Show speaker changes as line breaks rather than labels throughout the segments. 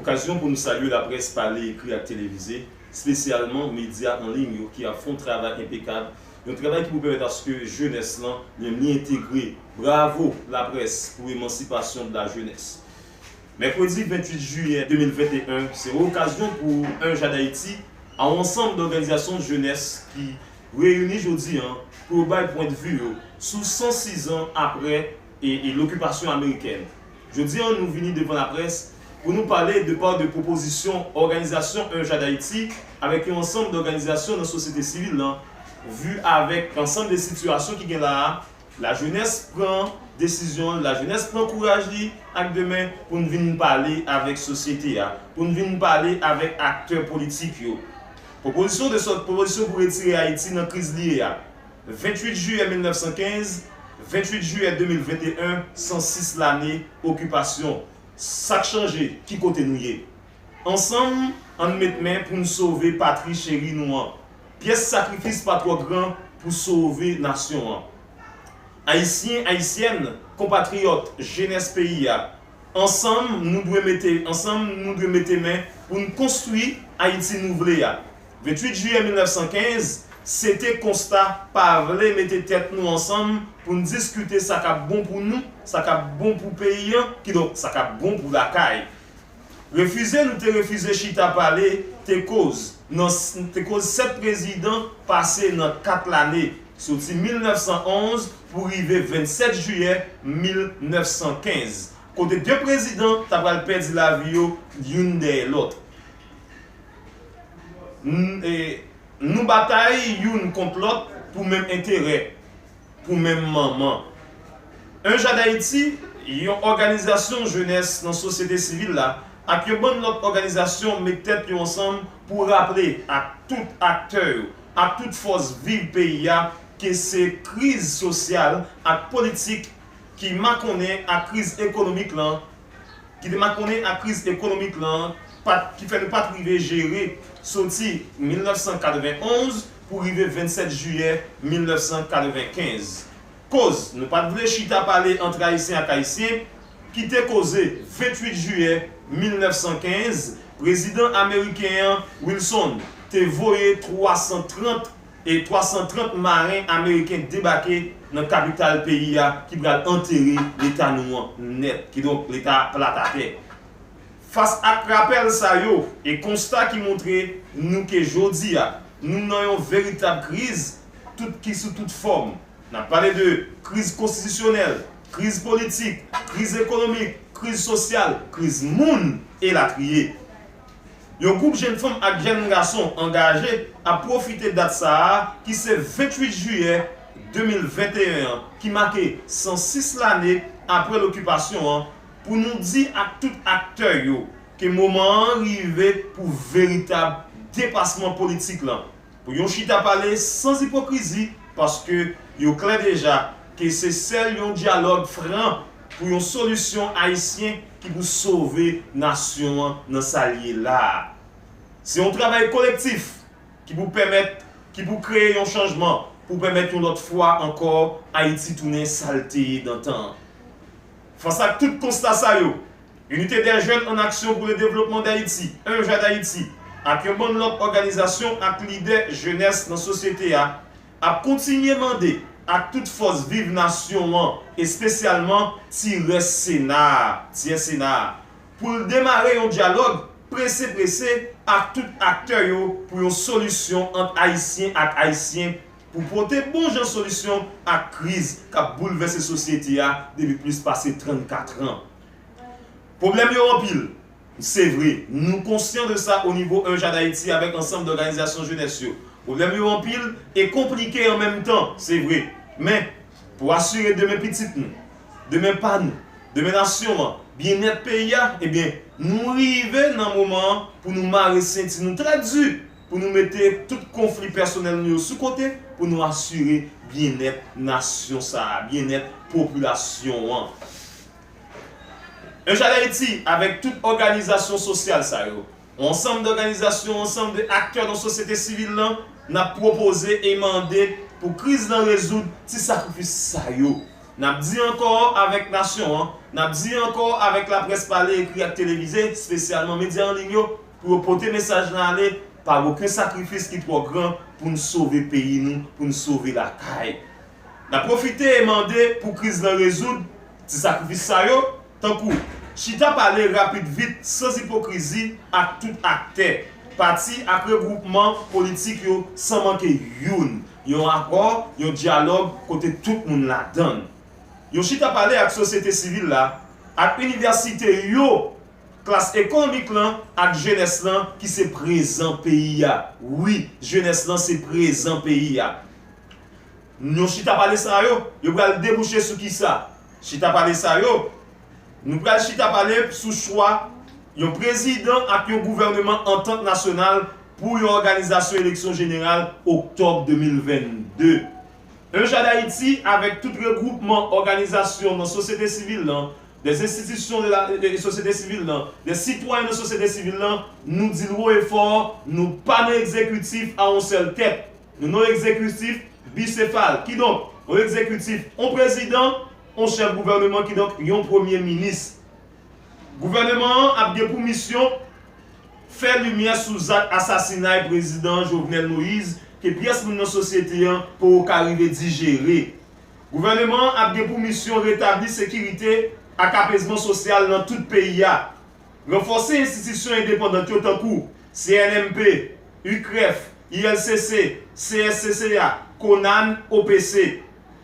Okazyon pou nou salye laprès pale, ekri ak televize, spesyalman medya an liy yo ki ap fon travay enpekab, yon travay ki pou pèmèt aske jenès lan menm li entegre. Bravo laprès pou emansipasyon de la jenès. Mèkredi 28 jiyè 2021 se okazyon pou Un Jade Haïti a ansanm dòganizasyon jenès ki reyini jodi an pou yo bay pwendvi yo sou 106 zan aprè e lokipasyon amerikèn. Jodi an nou vini devan laprès pou nou pale de pa de pwopozisyon òganizasyon Un Jade Haïti avèk yon ansanm dòganizasyon nan sosyete sivil lan vu avèk ansanm de sitiyasyon ki gen la a lajenès pran desizyon l lajenès pran kouraj li ak demen pou n vin pale avèk sosyete a pou n vin pale avèk aktè politik yo pwopozisyon de sòt pwopozisyon pou retire Ayiti nan kriz li ye a. 28 jiyè 1915, 28 jiyè 2021 106 lane okipasyon, sa k chanje? Ki kote nou ye? Ansanm, an n met men pou n sove patri cheri nou an. Pyès sakrifis pa twò gran pou sove nasyon an. Ayisyen, Ayisyèn, konpatriyòt, jenès peyi a, ansanm nou dwe mete ansanm nou dwe mete men pou n konstwi Ayiti nou vle a. 28 jiyè 1915, se te konsta pa vle mete tèt nou ansanm pou n diskite sa k ap bon pou nou, sa k ap bon pou peyi an, kidonk sa k ap bon pou lakay. Refize nou te refize chita pale te koz nan te koz 7 prezidan pase nan 4 lane, soti 1911 pou rive 27 jiyè 1915, kote 2 prezidan ta pral pèdi lavi yo youn dèyè lòt. Nou batay youn kont lòt pou menm enterè, pou menm manman. Un Jade Haiti, yon òganizasyon jenès nan sosyete sivil la ak yon bann lòt òganizasyon met tèt yo ansanm pou raple ak tout aktè yo, ak tout fòs viv peyi a ke se kriz sosyal ak politik ki makonnen ak kriz ekonomik lan ki te makonnen ak kriz ekonomik lan pat ki fè nou pat rive jere soti 1991 pou rive 27 jiyè 1995. Koz nou pat vle chita pale antre Ayisyen ak Ayisyen ki te koze 28 jiyè 1915 prezidan ameriken an Wilson te voye 330 e 330 maren ameriken debake nan kapital peyi a ki pral antere leta nou an nèt, kidonk leta a plat atè. Fas ak rapèl sa yo e konsta ki montre nou ke jodi a nou nan yon veritab kriz tout ki sou tout fòm, n ap pale de kriz konstitisyonèl, kriz politik, kriz ekonomik, kriz sosyal, kriz moun, elatriye. Yon koup jenn fanm ak jenn gason angaje ap pwofite dat sa a ki se 28 jiyè 2021 an ki make 106 lane apre lokipasyon an pou nou di ak tout aktè yo ke moman an rive pou veritab depasman politik lan Pou yon chita pale sans ipokrizi paske yo klè deja ke se sèl yon dyalòg fran pou yon solisyon ayisyen ki pou sove nasyon an nan sa l ye la a. Se yon travay kolektif ki pou pèmèt ki pou kreye yon chanjman pou pèmèt yon lòt fwa ankò Ayiti tounen sa l te ye dantan an. Fas ak tout konsta sa yo, Unité des Jeunes en Action pour le Développement d'Haïti, UNJAD'Haïti, ak yon bann lòt òganizasyon ak lidè jenès nan sosyete a, ap kontinye mande ak tout fòs viv nasyon an, espesyalman ti rès Sena a, Tyen Sena a, pou l demare yon dyalòg prese prese ak tout aktè yo pou yon solisyon ant Ayisyen ak Ayisyen pou pote bon jan solisyon ak kriz k ap boulvèse sosyete a depi plis pase 34 an. Pwoblèm yo anpil, se vre. Nou konsyan de sa o nivo Enja Dayiti avèk ansanm dòganizasyon jenès yo. Pwoblèm yo anpil e konplike an menm tan, se vre. Men, pou asire demen pitit nou, demen pa nou, demen nasyon an, byennèt peyi a, ebyen, nou rive nan moman an pou nou mare senti nou trè di pou nou mete tout konfli pèsonèl nou yo sou kote pou nou asire byennèt nasyon sa a, byennèt popilasyon an. Yon jan Ayiti, avèk tout òganizasyon sosyal sa yo, yon ansanm dòganizasyon, yon ansanm de aktè nan sosyete sivil lan, n ap pwopoze e mande pou kriz lan rezoud ti sakrifis sa yo. N ap di ankò avèk nasyon an, n ap di ankò avèk laprès pale, ekri ak televize, spesyalman medya an liy yo, pou yo pote mesaj lan ale, pa gen oken sakrifis ki twò gran pou n sove peyi nou, pou n sove lakay. Nap pwofite mande pou kriz lan rezoud, ti sakrifis sa yo, tankou, chita pale rapid vit sans ipokrizi ak tout aktè, pati ak regwoupman politik yo san manke youn, yon akò, yon dyalòg kote tout moun ladann. Yon chita pale ak sosyete sivil la, ak inivèsite yo, klas ekonomik lan ak jenès lan ki se prezan peyi a, wi, jenès lan se prezan peyi a. Yon chita pale sa yo, yo pral debouche sou ki sa? Chita pale sa yo, nou pral chita pale sou chwa yon prezidan ak yon gouvèneman antant nasyonal pou yon òganizasyon eleksyon jeneral oktòb 2022. Un JadHaiti avèk tout regwoupman òganizasyon nan sosyete sivil lan, des institutions de la société civile lan, des citoyens de société civile lan, nou di l wo e fò, nou pa nan egzekitif a yon sèl tèt. Yon non egzekitif bisefal, kidonk, yon egzekitif, yon prezidan, yon chèf gouvèneman, kidonk, yon premye minis. Gouvèneman an ap gen pou misyon fè limyè sou zak asasinay prezidan Jovenel Moïse ke pyès moun nan sosyete an poko ka rive dijere. Gouvèneman an ap gen pou misyon retabli sekirite ak apezman sosyal nan tout peyi a. Ranfòse enstitisyon endepandant yo tankou, CNMP, UCREF, ULCC, CSCCA, Conan, OPC.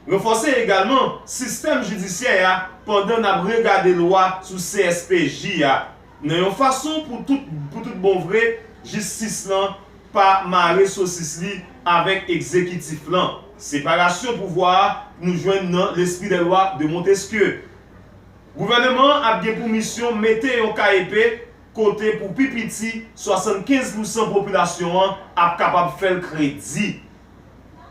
Ranfòse egalman sistèm jidisyè a pandan n ap regade lwa sou CSPJ a nan yon fason pou tout pou tout bon vre jistis lan pa mare sosis li avèk egzekitif lan. Separasyon pouvwa a nou jwenn nan L'Esprit des Lois de Montesquieu. Gouvèneman an ap gen pou misyon mete yon ka epe kote pou pi piti 75 pousan popilasyon an ap kapab fè l kredi.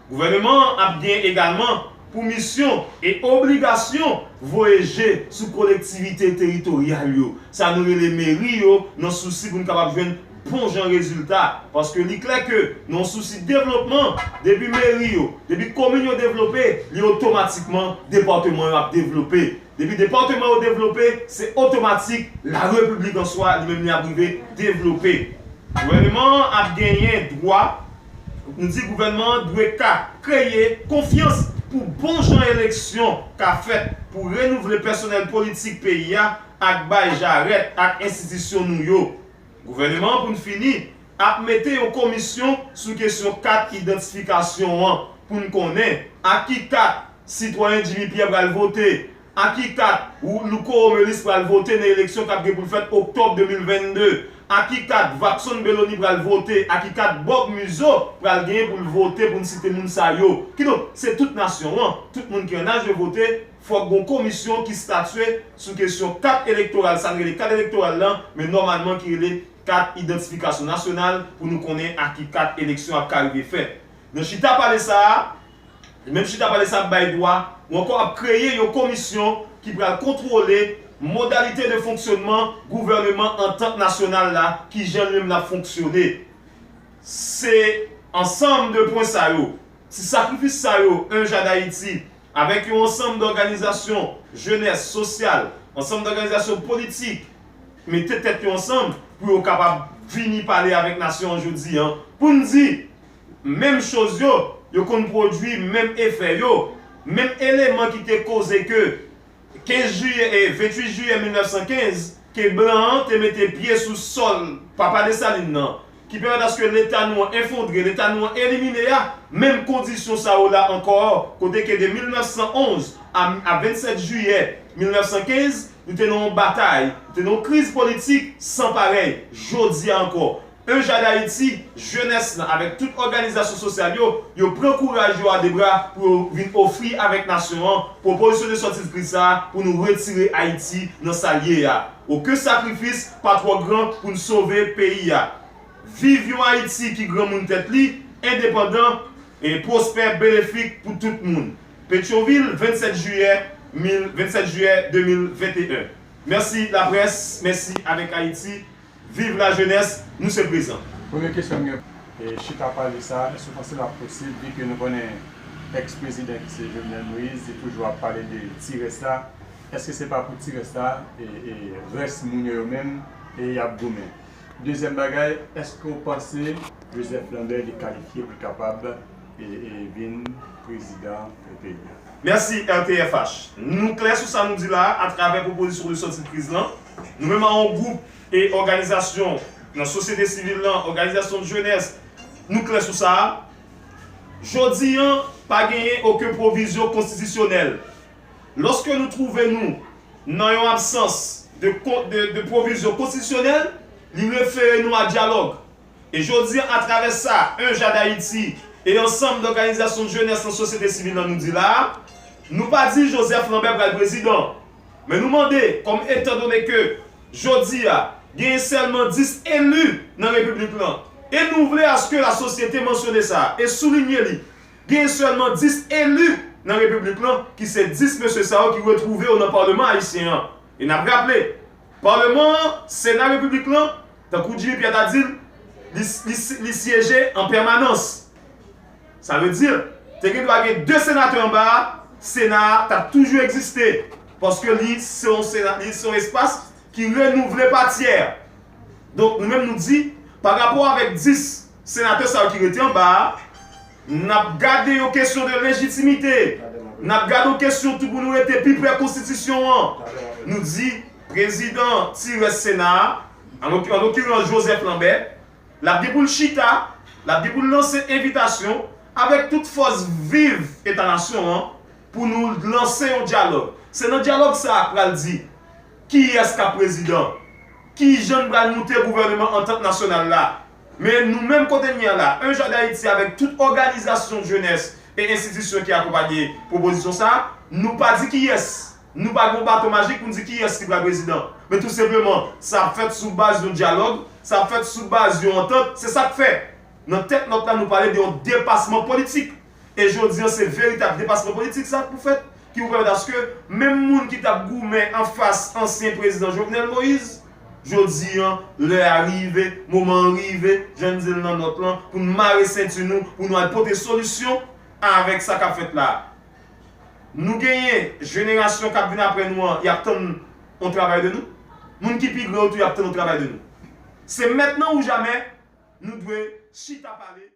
Gouvèneman an ap gen egalman pou misyon e obligasyon voye je sou kolektivite teritoryal yo, sa nou rele meri yo nan sousi pou n kapab jwenn bon jan rezilta paske li klè ke nan yon sousi devlopman depi meri yo, depi komin yo devlope li otomatikman depatman yo ap devlope depi depatman yo devlope se otomatik la repiblik an swa li menm li ap rive devlope gouvèneman an ap genyen dwa nou di gouvèneman an dwe ka kreye konfyans pou bon jan eleksyon ka fèt pou renouvle pèsonèl politik peyi a ak bay jarèt ak enstitisyon nou yo. Gouvèneman an pou n fini ap mete yon komisyon sou kesyon kat idantifikasyon an pou n konnen ak ki kat sitwayen Jimmy Pierre pral vote, ak ki kat Louko Romelis pral vote nan eleksyon k ap gen pou l fèt oktòb 2022, ak ki kat Vapson Bellony pral vote, ak ki kat Bob Muzo pral genyen pou l vote pou n site moun sa yo. Kidonk se tout nasyon an, tout moun ki an aj yo vote, Fòk gon komisyon ki statye sou kesyon kat elektoral sa n rele kat elektoral lan men nòmalman ki rele kat idantifikasyon nasyonal pou nou konnen ak ki kat eleksyon ap ka rive fèt nan chita pale sa a menm chita pale sa ap bay dwa ou ankò ap kreye yon komisyon ki pral kontwole modalite de fonksyonman gouvèneman antant nasyonal la ki jan li menm l ap fonksyone se ansanm de pwen sa yo si sakrifis sa yo 1 ja dayiti Avèk yon ansanm dòganizasyon jenès, sosyal, ansanm dòganizasyon politik mete tèt yo ansanm pou yo kapab vini pale avèk nasyon an jodi an pou n di menm choz yo, yo konn pwodui menm efè yo, menm eleman ki te koze ke 15 jiyè e 28 jiyè 1915 ke blan an te mete pye sou sòl Papa Desalin nan, ki pèmèt aske Leta nou an efondre, Leta nou an elimine a, menm kondisyon sa yo la ankò kote ke de 1911 a 27 jiyè 1915 nou te nan yon batay, nou te nan yon kriz politik san parèy, jodi a ankò 1 ja Dayiti, jenès lan avèk tout òganizasyon sosyal yo, yo pran kouraj yo a 2 bra pou yo vin ofri avèk nasyon an pwopozisyon de sòti dkriz sa a pou nou retire Ayiti nan sa l ye a. Oken sakrifis pa twò gran pou n sove peyi a. Viv yon Ayiti ki granmoun tèt li, endepandan, pwospè, benefik pou tout moun. Petyonvil, 27 jiyè 27 jiyè 2021 Mèsi laprès, mèsi avèk Ayiti. Viv la jenès, nou se prezan. Premye kesyon m gen
pou chita pale sa, èske w panse l ap posib byen ke nou konnen ex prezidan ki se Jovenel Moïse li toujou ap pale de ti rès la, èske se pa pou ti rès la e rès moun yo yo menm e y ap goumen? Dezyèm bagay, èske w panse Joseph Lambert li kalifye pou l kapab e vin prezidan peyi a? Mèsi
RTFH. Nou klè sou sa nou di la a, atravè pwopozisyon de sòti de kriz lan, Nou menm an gwoup e òganizasyon nan sosyete sivil lan, òganizasyon jenès, nou klè sou sa a, jodi an pa genyen oken pwovizyon konstitisyonèl. Lòske nou twouve nou nan yon absans de pwovizyon konstitisyonèl, li refere nou a dyalòg. E jodi an atravè sa 1 Ja Dayiti e ansanm dòganizasyon jenès nan sosyete sivil lan nou di la a, nou pa di Joseph Lambert pral prezidan, Men nou mande, kòm etandone ke jodi a, genyen sèlman 10 eli nan Repiblik lan, e nou vle aske lasosyete mansyone sa e soulinye li, genyen sèlman 10 eli nan Repiblik lan, ki se 10 mesye sa yo ki retwouve yo nan Paleman Ayisyen an. E n ap raple, Paleman an, Sena Repiblik lan, tankou Jimmy Pierre ta di l, li syeje an pèmanans. Sa vle di, te gen dwa gen 2 senatè anba a, Sena a t ap toujou egziste, paske li se yon sena, li se yon espas ki renouvle pa tyè. Donk nou menm nou di, pa rapò avèk 10 senatè sa yo ki rete anba a, n ap gade yon kesyon de lejitimite, n ap gade yon kesyon tou pou nou rete pi pre konstitisyon an. Nou di, prezidan ti rès Sena a, an lokirans Joseph Lambert, L ap gen pou l chita, l ap gen pou l lanse envitasyon avèk tout fòs viv Eta nasyon an pou nou lanse yon dyalòg. Se nan dyalòg sa a pral di kiyès k ap prezidan, kijan n pral moute gouvèneman antant nasyonal la. Men nou menm kotenye a la, Un Jardin Haïti avèk tout òganizasyon jenès e enstitisyon ki akonpanye pwopozisyon sa a, nou pa di kiyès Nou pa gen yon baton majik pou n di kiyès ki pral prezidan. Men tou senpleman, sa ap fèt sou baz yon dyalòg, sa ap fèt sou baz yon antant. Se sa k fè, nan tèt nòt la, nou pale de yon depasman politik. E jodi an, se veritab depasman politik sa a k pou fèt, ki pou pèmèt aske menm moun ki t ap goumen anfas ansyen prezidan Jovenel Moïse, jodi an, lè a rive, moman an rive, jan n di l nan nòt lan, pou n mare senti nou, pou nou al pote solisyon avèk sa k ap fèt la a. nou genyen jenerasyon kap vin aprè nou an yap tann yon travay de nou, moun ki pi gran yo tou yap tann yon travay de nou. Se mètnan ou jamè nou dwe chita pale.